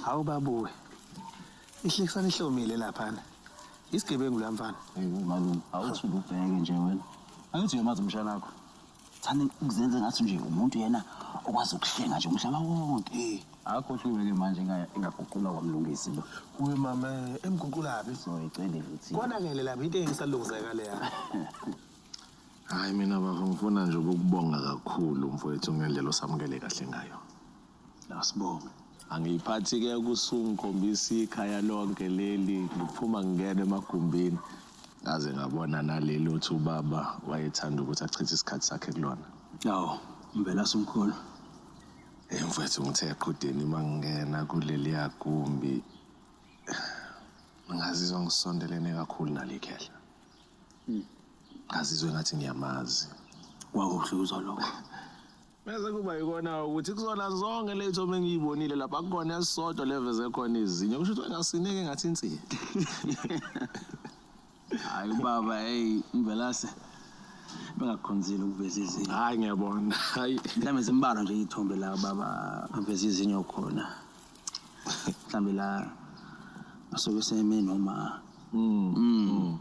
Hawu babuwe. Ihlekisana ihlomile laphana. Isigebengu la mfana. Hey malume, awuthi ubheke nje wena. Angithi uyamazi umshana wakho. Thani ukuzenze ngathi nje umuntu yena okwazi ukuhlenga nje umhlaba wonke. Akhohliwe ke manje inga- ingaguqulwa kwamlungisi lo. Uwe mama emguqulabi. Soyicele futhi. Konakele lapha into engisalungizeka leya. Hayi mina bafo ngifuna nje ukukubonga kakhulu mfowethu ngendlela osamukele kahle ngayo. Asibonge. Angiyiphathi ke kusungikhombisa ikhaya lonke leli ngiphuma ngingena emagumbini ngaze ngabona naleli othi ubaba wayethanda ukuthi achithe isikhathi sakhe kulona. Awu, ngivela sumkhulu. Hey mfethu ngithe eqhudeni uma ngingena kuleli yagumbi ngazizwa ngisondelene kakhulu nale khehla. Ngazizwe ngathi ngiyamazi. Kwakubuhluzwa lokho. Bese kuba yikona ukuthi kuzona zonke ley'tho uma ngiyibonile lapha kukhona esisodwa leveze khona izinyo kusho ukuthi ngasineke ngathi insini hayi ubaba eyi mvelase bengakukhonzile ukuveza izinyo hhayi ngiyabona hayi mhlawumbe zimbalwa nje iy'thombe la baba aveza izinyo khona mhlawumbe la asuke seme noma mm. mm.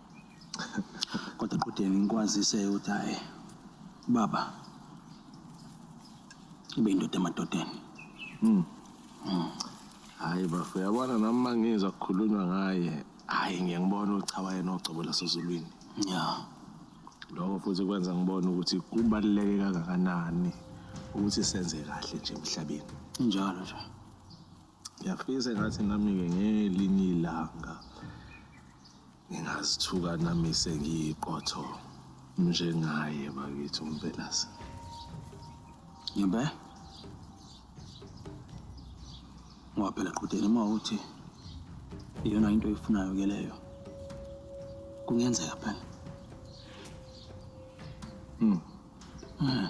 kodwa qudeni ngikwazise ukuthi hayi baba ibe indoda emadodeni mm. mm. hayi bafo yabona nami uma ngizwa kukhulunywa ngaye hayi ngiye ngibona ukuthi cha wayena ogcobo lasezulwini ya lokho futhi kwenza ngibone ukuthi kubaluleke kangakanani ukuthi senze kahle nje emhlabeni njalo nje Ngiyafisa engathi nami-ke ngelinye ilanga ngingazithuka nami sengiyiqotho njengaye bakithi uMvelase. Yimbe. Ngoba phela qhudeni uma uthi iyona into oyifunayo ke leyo. Kungenzeka phela. Mm. Mm.